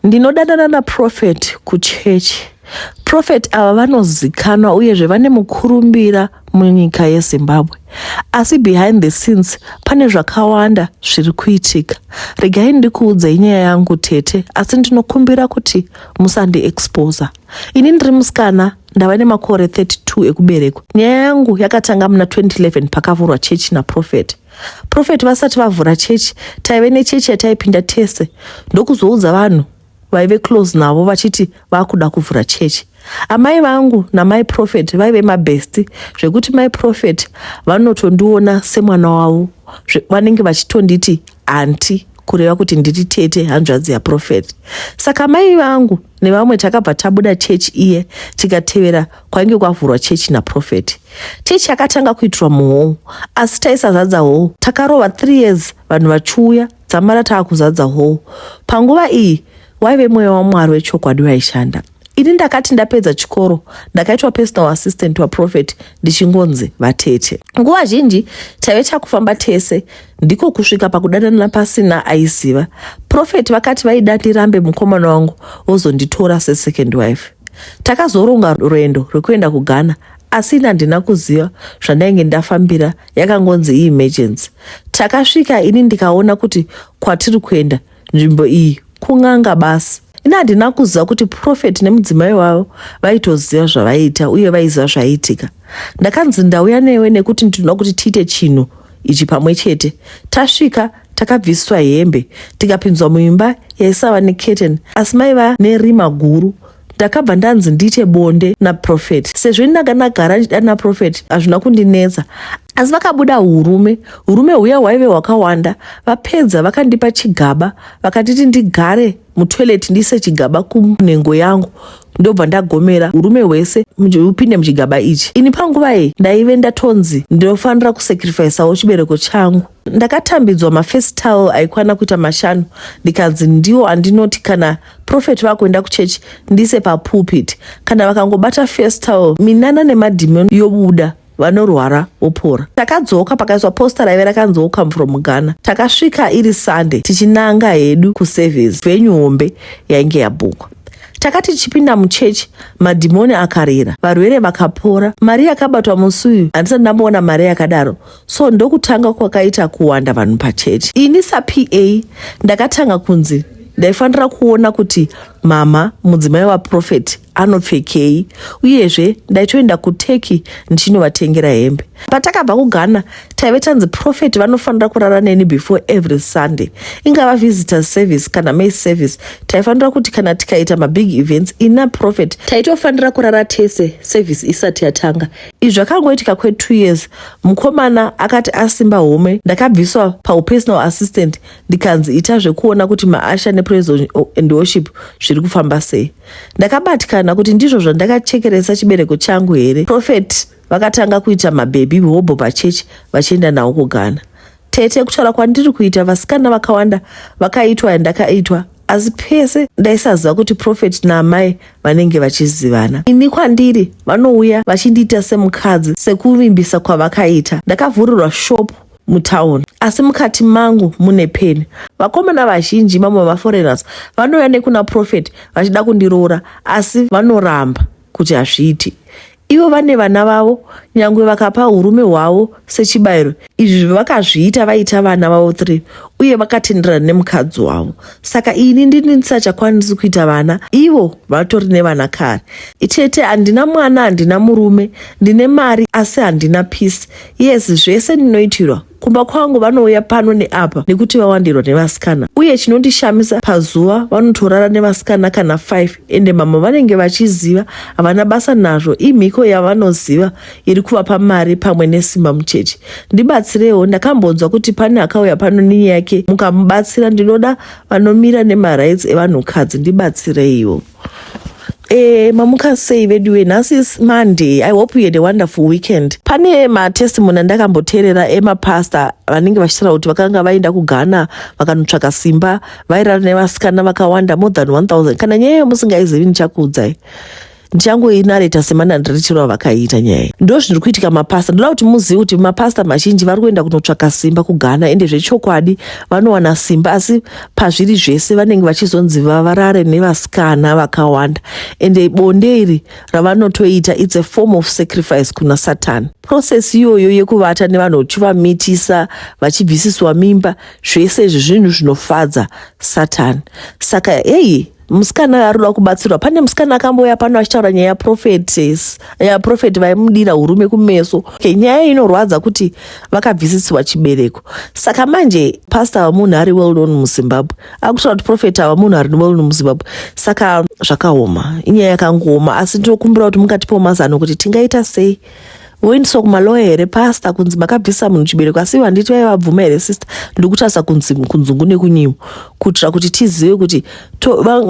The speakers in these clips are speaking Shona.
Ndinodanana naProphet kuchechi. Prophet ava vanozikanwa uyezve vane mukurumbira munyika yezimbabwe asi behind the scenes pane zvakawanda zviri kuitika regai ndikuudze inyaya yangu tete asi ndinokumbira kuti musandiexposa ini ndiri musikana ndava nemakore 32 ekuberekwa nyaya yangu yakatanga muna 2011 pakavhurwa chechi naprofeti Prophet vasati vavhura chechi taive nechechi yataipinda tese ndokuzoudza vanhu vaive close navo vachiti vakuda kuvhura chechi. Amai vangu namai Prophet vaive mabhesti zvekuti mai Prophet vanotondiona semwana wavo vanenge vachitonditi anti kureva kuti ndiri tete hanzvadzi yaProphet. Saka mai vangu nevamwe takabva tabuda chechi iye tikatevera kwainge kwavhurwa chechi naprofeti chechi yakatanga kuitirwa muhou asi taisazadza hou takarova th years vanhu vachiuya dzamara taa kuzadza hou panguva iyi waive mweya wamwari wechokwadi waishanda ini ndakati ndapedza chikoro ndakaitwa personal assistant waprofeti ndichingonzi vatete. Nguva zhinji taive takufamba tese ndiko kusvika pakudanana pasina aiziva. Prophet vakati vaida ndirambe mukomana wangu vozonditora sesecond wife. Takazoronga rwendo rwekuenda kuGhana asi ini handina kuziva zvandainge ndafambira yakangonzi iemergency. Takasvika ini ndikaona kuti kwatiri kuenda nzvimbo iyi kun'anga basi ini handina kuziva kuti profeti nemudzimai wavo vaitoziva zvavaiita uye vaiziva zvaiitika ndakanzi ndauya newe nekuti ndinoda kuti tiite chinhu ichi pamwe chete tasvika takabviswa hembe tikapinzwa muimba yaisava neketen asi maiva nerima guru ndakabva ndanzi ndiite bonde naprofet sezvo ini ndanga ndagara ndichida naprofet hazvina kundinetsa asi vakabuda urume urume huya hwaive hwakawanda vapedza vakandipa chigaba vakatiti ndigare mutoilet ndiise chigaba kunhengo yangu ndobva ndagomera urume hwese upinde muchigaba ichi ini panguva iyi ndaive ndatonzi ndinofanira kusacrifisawo chibereko changu ndakatambidzwa mafirst towel aikwana kuita mashanu ndikanzi ndiwo andinoti kana profet vakuenda kuchechi ndise papulpit kana vakangobata first towel minana nemadhimon yobuda vanorwara vopora takadzoka pakaiswa posta raive rakanzi welcome from ghana takasvika iri sunday tichinanga hedu kuservice venyu hombe yainge yabhukwa takati tichipinda muchechi madhimoni akarira varwere vakapora mari yakabatwa musi uyu handisati ndamboona mari yakadaro so ndokutanga kwakaita kuwanda vanhu pachechi ini sapa ndakatanga kunzi ndaifanira kuona kuti mama mudzimai waprofeti anopfekei uyezve ndaitoenda kuteki ndichinovatengera hembe patakabva kughana taive tanzi profeti vanofanira kurara neni before every sunday ingava visitor service kana may service taifanira kuti kana tikaita mabig events ina profeti taitofanira kurara tese service isati yatanga izvi zvakangoitika kwe two years mukomana akati asimba home ndakabviswa paupersonal assistant ndikanzi ita zvekuona kuti maasha nepraise and worship zviri kufamba sei ndakabatikana kuti ndizvo zvandakachekeresa chibereko changu here prophet vakatanga kuita mabhebhi hobho pachechi vachienda nawo kughana Tete, kutaura kwandiri kuita vasikana vakawanda vakaitwa yandakaitwa asi pese ndaisaziva kuti profeti naamai vanenge vachizivana ini kwandiri vanouya vachindiita semukadzi sekuvimbisa kwavakaita ndakavhurirwa shopu mutown asi mukati mangu mune peni vakomana vazhinji mamwe vamaforeigners vanouya nekuna profeti vachida kundiroora asi vanoramba kuti hazviiti ivo vane vana vavo nyangwe vakapa urume hwavo sechibayiro izvi vakazviita vaita vana vavo three uye vakatenderana nemukadzi wavo saka ini ndini ndisachakwanisi kuita vana ivo vatori nevana kare itete handina mwana handina murume ndine mari asi handina peace yes zvese ndinoitirwa kumba kwangu vanouya pano neapa nekuti vawandirwa nevasikana uye chinondishamisa pazuva vanotorara nevasikana kana 5 ende mama vanenge vachiziva havana basa nazvo imhiko yavanoziva iri kuvapa mari pamwe nesimba mucheche ndibatsirewo ndakambonzwa kuti pane akauya pano nenyaya yake mukamubatsira ndinoda vanomira nemarights evanhukadzi ndibatsireiwo Eh, mamuka sei veduwe nhasi is monday i hope you had a wonderful weekend pane matestimony andakamboteerera emapasta vanenge vachitaura kuti vakanga vaenda kughana vakanotsvaka simba vairara nevasikana vakawanda more than 1000 kana nyaya iyo musingaizivi ndichakuudzai ndichangoinareta semanandiritiro avakaita nyaya ndo zviri kuitika mapasta ndoda kuti muzivi kuti mapasta mazhinji vari kuenda kunotsvaka simba kughana ende zvechokwadi vanowana simba asi pazviri zvese vanenge vachizonzi vavarare nevasikana vakawanda ende bonde iri ravanotoita its a form of sacrifice kuna satani process iyoyo yekuvata nevanhu uchivamitisa vachibvisiswa mimba zvese izvi zvinhu zvinofadza satani saka heyi musikana arikuda kubatsirwa pane musikana akambouya pano achitaura nyaya yaprofetes yaprofeti vaimudira urume kumeso okay, nyaya inorwadza kuti vakabvisisirwa chibereko saka manje pasta ava munhu ari well known muzimbabwe akutaura kuti profeti ava munhu ari well known muzimbabwe saka zvakaoma inyaya yakangooma asi ndinokumbira kuti mungatipawo mazano kuti tingaita sei voindiswa kumaloya here pasta kunzi makabvisa munhu chibereko asi ivo handiti vaiva bvuma here sister ndikutarisa kunzi kunzungu nekunyimo kuitira kuti tizive kuti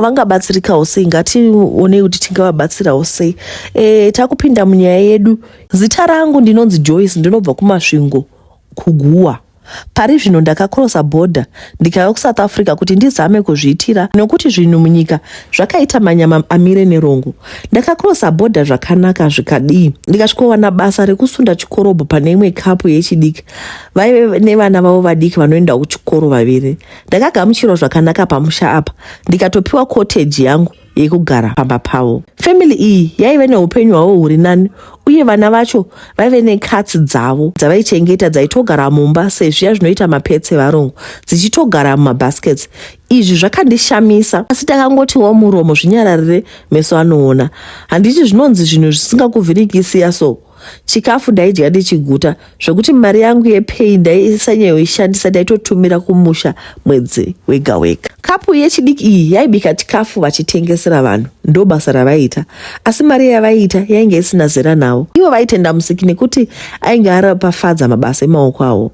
vangabatsirikawo sei ngationei kuti tingavabatsirawo sei e, takupinda munyaya yedu zita rangu ndinonzi joyce ndinobva kumasvingo kuGuwa. Pari zvino ndakakrosa bhodha ndikauya kuSouth Africa kuti ndizame kuzviitira nokuti zvinhu munyika zvakaita manyama amire nerongo. Ndakakrosa bhodha zvakanaka zvikadii ndikasvikowana basa rekusunda chikorobho pane imwe kapu yechidiki. Vaive nevana vavo vadiki vanoenda kuchikoro vaviri. Ndakagamuchirwa zvakanaka pamusha apa ndikatopiwa cottage yangu. yekugara pamba pavo. Family iyi yaive neupenyu hwavo huri nani uye vana vacho vaive nekatsi dzavo dzavaichengeta dzaitogara mumba sezviya zvinoita mapets evarungu dzichitogara mumabaskets. Izvi zvakandishamisa asi takangotiwo muromo zvinyararire meso anoona. Handiti zvinonzi zvinhu zvisingakuvhirikisiya so. chikafu ndaidya ndichiguta zvekuti mari yangu yepay ndaisanyayoishandisa ndaitotumira kumusha mwedzi wega wega kapu yechidiki iyi yaibika chikafu vachitengesera vanhu ndo basa ravaiita asi mari yavaiita yainge isina zera navo ivo vaitenda musiki nekuti ainge arapafadza mabasa emaoko avo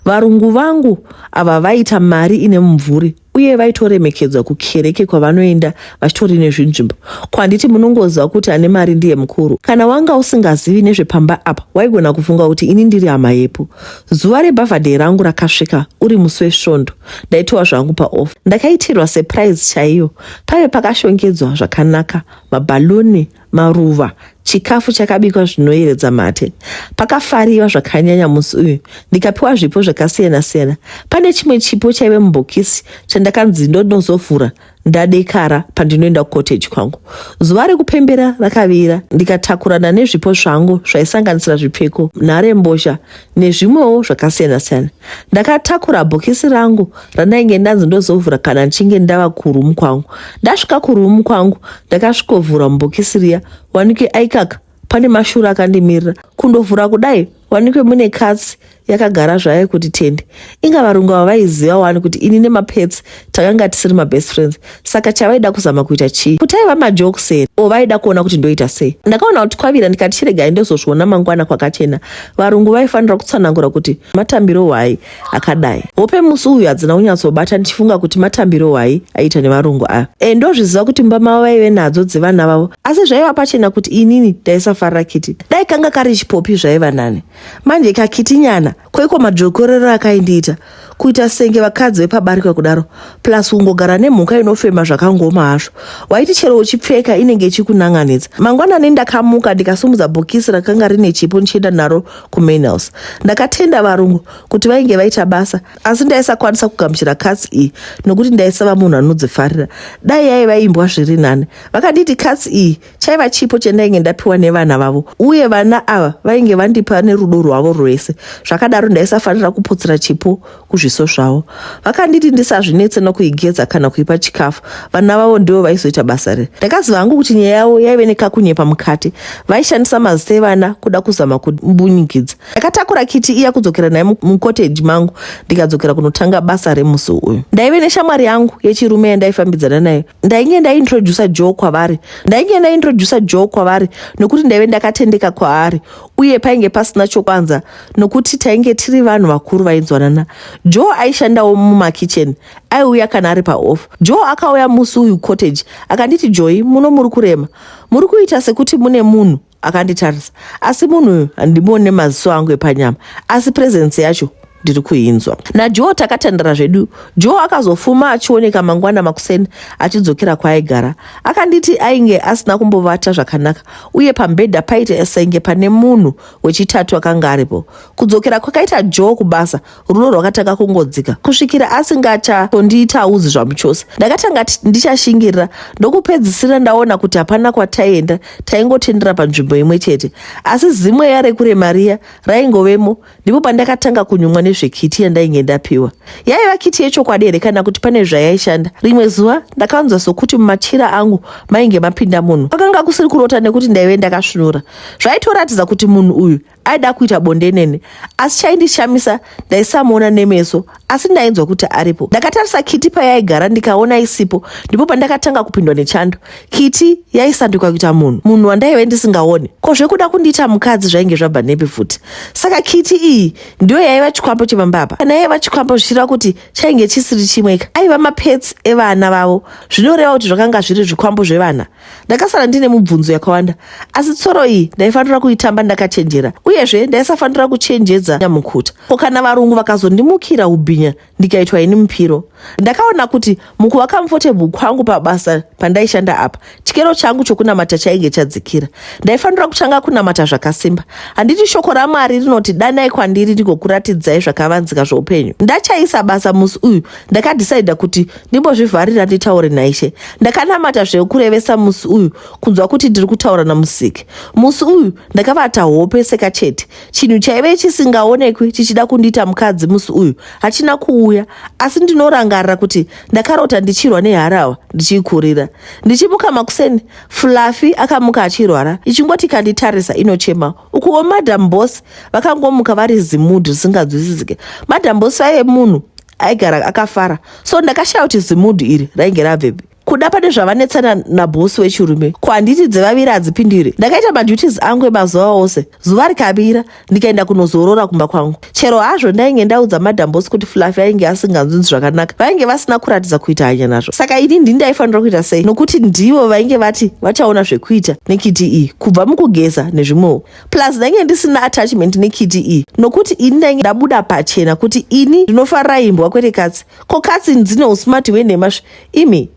varungu vangu ava vaita mari ine mumvuri uye vaitoremekedza kukereke kwavanoenda vachitori nezvinzvimbo ko handiti munongoziva kuti ane mari ndiye mukuru kana wanga usingazivi nezvepamba apa waigona kufunga kuti ini ndiri hama yepo zuva rebhavhadhei rangu rakasvika uri musi wesvondo ndaitowa zvangu paof ndakaitirwa surprise chaiyo pave pakashongedzwa zvakanaka mabhaluni maruva, chikafu chakabikwa zvinoyeredza mate. Pakafariwa zvakanyanya musi uyu, ndikapiwa zvipo zvakasiyana-siyana. Pane chimwe chipo chaive mubhokisi chandakanzi ndodozovhura ndadekara pandinoenda kukoteji kwangu. Zuva rekupembera rakavira ndikatakurana nezvipo zvangu zvaisanganisira zvipfeko, nharembozha nezvimwewo zvakasiyana siyana ndakatakura bhokisi rangu randainge ndanzi ndozovhura kana ndichinge ndava kurumu kwangu ndasvika kurumu kwangu ndakasvikovhura mubhokisi riya wanike aikaka pane mashura akandimirira kundovhura kudai wanike mune katsi yakagara zvayo kuti tende inga varungu ava vaiziva wani kuti ini nemapetsi takanga tisiri mabest friends saka chavaida kuzama kuita chii kuti aiva majokes here o vaida kuona kuti ndoita sei ndakaona kuti kwavira ndikati chiregai ndozozviona mangwana kwakachena varungu vaifanira kutsanangura kuti matambiro hwai akadai hope musi uyu hadzina kunyatsobata ndichifunga kuti matambiro hwai aiita nevarungu aya e ndozviziva kuti mumba mavo vaive nadzo dzevana vavo asi zvaiva pachena kuti inini ndaisafarira kiti dai kanga kari chipopi zvaiva nani manje kakiti nyana koiko madzokorero akaindiita kuita senge vakadzi vepabarika kudaro plus kungogara nemhuka inofema zvakangoma hazvo waiti chero uchipfeka inenge ichikunan'anidza mangwanani ndakamuka ndikasumudza bhokisi rakanga rine chipo ndichienda naro kumainhouse ndakatenda varungu kuti vainge vaita basa asi ndaisakwanisa kugamuchira katsi iyi nokuti ndaisava munhu anodzifarira dai yaiva imbwa zviri nani vakanditi katsi iyi chaiva chipo chandainge ndapiwa nevana vavo uye vana ava vainge vandipa nerudo rwavo rwese zvakadaro ndaisafanira kuputsira chipo kuzviso zvavo vakanditi ndisazvinetse nokuigeza kana kuipa chikafu vana vavo ndivo vaizoita basa riri ndakaziva hangu kuti nyaya yavo yaive nekakunyepa mukati vaishandisa mazita evana kuda kuzama kumbunyikidza ndakatakura kiti iya kudzokera naye mukoteji mangu ndikadzokera kunotanga basa remusi uyu ndaive neshamwari yangu yechirume yandaifambidzana nayo ndainge ndaintroducer joe kwavari ndainge ndaintroducer joe kwavari nokuti ndaive ndakatendeka kwaari uye painge pasina chokwanza nokuti tainge tiri vanhu vakuru vainzwanana joe aishandawo mumakitchen aiuya kana ari paoff joe akauya musi uyu cottage akanditi joi muno muri kurema muri kuita sekuti mune munhu akanditarisa asi munhu uyu handimuone maziso angu epanyama asi presence yacho ndiri kuinzwa najoe takatandara zvedu joe akazofuma achioneka mangwana makuseni achidzokera kwaaigara akanditi ainge asina kumbovata zvakanaka uye pambhedha paita senge pane munhu wechitatu akanga aripo kudzokera kwakaita joe kubasa rudo rwakatanga kungodzika kusvikira asingachatondiitaudzi zvamuchose ndakatanga ndichashingirira ndokupedzisira ndaona kuti hapana kwataienda taingotendera panzvimbo imwe chete asi zimwe yarekure mariya raingovemo ndipo pandakatanga kunyumwa nezvekiti yandainge ndapiwa yaiva kiti yechokwadi here kana kuti pane zvayaishanda rimwe zuva ndakanzwa sokuti mumachira angu mainge mapinda munhu kwakanga kusiri kurota nekuti ndaive ndakasvinura zvaitoratidza kuti munhu uyu aida kuita bonde neni asi chaindishamisa ndaisamuona nemeso asi ndainzwa kuti aripo ndakatarisa kiti payaigara ndikaona isipo ndipo pandakatanga kupindwa nechando kiti yaisanduka kuita munhu munhu wandaive ndisingaone ko zvekuda kundiita mukadzi zvainge zvabva nepi futi saka kiti iyi ndiyo yaiva chikwambo chemambapa kana yaiva chikwambo zvichireva kuti chainge chisiri chimweka aiva mapets evana vavo zvinoreva kuti zvakanga zviri zvikwambo zvevana ndakasara ndine mubvunzo yakawanda asi tsoro iyi ndaifanira kuitamba ndakachenjera uyezve ndaisafanira kuchenjedza nyamukuta ko kana varungu vakazondimukira ubhinya ndikaitwa ini mupiro ndakaona kuti mukuva kamfotebhu kwangu pabasa pandaishanda apa chikero changu chokunamata chainge chadzikira ndaifanira kutanga kunamata zvakasimba handiti shoko ramwari rinoti danai kwandiri ndigokuratidzai zvakavanzika zveupenyu ndachaisa basa musi uyu ndakadhisaidha kuti ndimbozvivharira nditaure naishe ndakanamata zvekurevesa musi uyu kunzwa kuti ndiri kutaura namusiki musi uyu ndakavata hope seka chete chinhu chaive chisingaonekwi chichida kundiita mukadzi musi uyu hachina kuuya asi ndinorangarira kuti ndakarota ndichirwa neharahwa ndichiikurira ndichimuka makuseni fluffy akamuka achirwara ichingoti kanditarisa inochema ukuwo madam boss vakangomuka vari zimudhi risinganzwisisike madam boss vaive munhu aigara akafara so ndakashaya kuti zimudhu iri rainge rabvepi kuda pane zvavanetsana nabhosi wechirume ko handiti dzevaviri hadzipindire ndakaita maduties angu emazuva ose zuva rikavira ndikaenda kunozorora kumba kwangu chero hazvo ndainge ndaudza madambosi kuti fluffy ainge asinganzunzi zvakanaka vainge vasina kuratidza kuita hanya nazvo saka ini ndini ndaifanira kuita sei nokuti ndivo vainge vati vachaona zvekuita nekiti iyi kubva mukugeza nezvimwewo plus ndainge ndisina attachment nekiti iyi nokuti ini ndainge ndabuda pachena kuti ini ndinofarira imbwa kwete katsi ko katsi dzine usmart hwenhema svi imi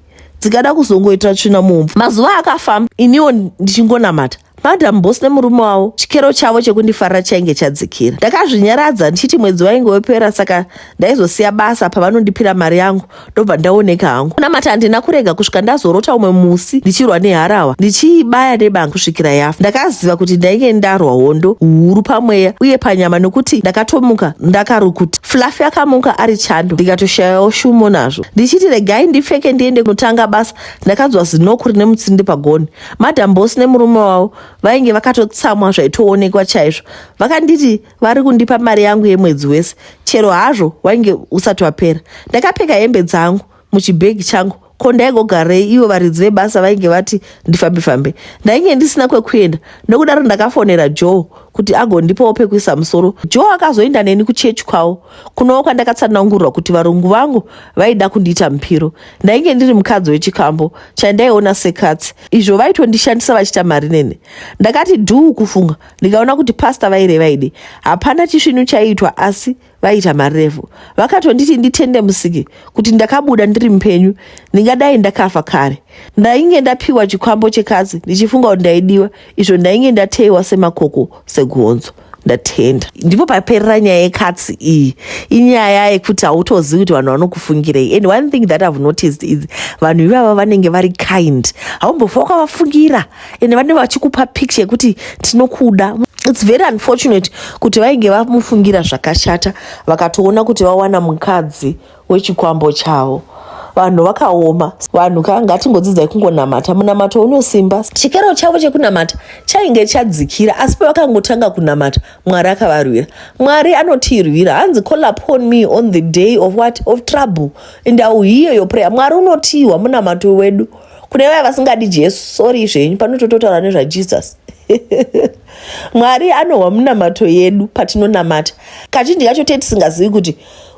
dzikada kuzongoitira tsvina mumvu mazuva akafamba iniwo ndichingonamata madam bos nemurume wavo chikero chavo chekundifarira chainge chadzikira ndakazvinyaradza ndichiti mwedzi wainge wepera saka ndaizosiya basa pavanondipira mari yangu ndobva ndaoneka hangu kunamata handina kurega kusvika ndazorota umwe musi ndichirwa neharawa ndichiibaya nebanga kusvikira yafa ndakaziva kuti ndainge ndarwa hondo huru pamweya uye panyama nokuti ndakatomuka ndakarukuti fluffy akamuka ari chando ndikatoshayawo shumo nazvo ndichiti regai ndipfeke ndiende kunotanga basa ndakanzwa zinoku rine mutsindi pagoni madam bosi nemurume wavo vainge vakatotsamwa zvaitoonekwa chaizvo vakanditi vari kundipa mari yangu yemwedzi wese chero hazvo wainge usati wapera ndakapfeka hembe dzangu muchibhegi changu ko ndaigogarei ivo varidzi vebasa vainge vati ndifambe fambe ndainge ndisina kwekuenda nokudaro ndakafonera joe kuti agondipawo pekuisa musoro joe akazoenda neni kuchechi kwavo kunowo kwandakatsanangurwa kuti varungu vangu vaida kundiita mupiro ndainge ndiri mukadzi wechikambo chandaiona sekatsi izvo vaitondishandisa vachiita mari nene ndakati dhuu kufunga ndikaona kuti pasta vaireva idi hapana chisvinu chaiitwa asi vaiita marevo vakatonditi nditende musiki kuti ndakabuda ndiri mupenyu ndingadai ndakafa kare ndainge ndapiwa chikwambo chekatsi ndichifunga kuti ndaidiwa izvo ndainge ndateiwa semakoko segonzo ndatenda ndipo paperera nyaya yekatsi iyi inyaya yekuti hautozivi kuti vanhu vanokufungirei and one thing that ihave noticed is vanhu ivava vanenge vari kind haumbofa wakavafungira ende vanenge vachikupa picture yekuti tinokuda its very unfortunate kuti vainge vamufungira zvakashata vakatoona kuti vawana mukadzi wechikwambo chavo vanhu vakaoma vanhu ka ngatingodzidzai kungonamata munamato unosimba chikero chavo chekunamata chainge chadzikira asi pavakangotanga kunamata mwari akavarwira mwari anotirwira hanzi call upon me on the day of what of trouble and iwiyo yoprayer mwari unotiwa munamato wedu kune vaya vasingadi jesu sori zvenyu panotototaura nezvajesus mwari anohwa munamato yedu patinonamata kazhinji kacho tee tisingazivi kuti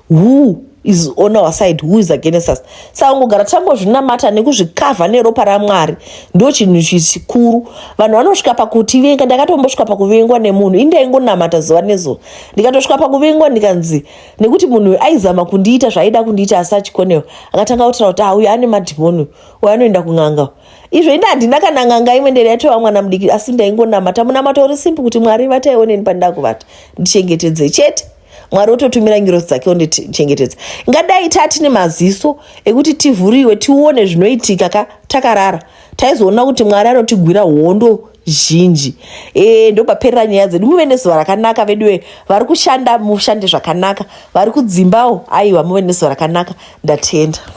who is on our side who is against us saka kungogara tambozvinamata nekuzvikavha neropa ramwari ndo chinhu chikuru vanhu vanosvika pakutivenga ndakatombosvika pakuvengwa nemunhu indaingonamata zuva nezuva ndikatosvika pakuvengwa ndikanzi nekuti munhu uyu aizama kundiita zvaaida kundiita asi achikonewa akatanga kutira kuti ah uyu ane madhimoni uyu anoenda kun'anga izvo inde handina kana n'anga imwe ndere yatova mwana mudiki asi ndaingonamata munamato uri simpi kuti mwari vatai oneni pandakuvata ndichengetedze chete mwari ototumira ngirosi dzake ondichengetedza ingadai tati nemaziso ekuti tivhuriwe tione zvinoitika ka takarara taizoona kuti mwari anotigwira hondo zhinji e, ndopaperera nyaya dzedu muve nezuva rakanaka veduwe vari kushanda mushande zvakanaka vari kudzimbawo aiwa muve nezuva rakanaka ndatenda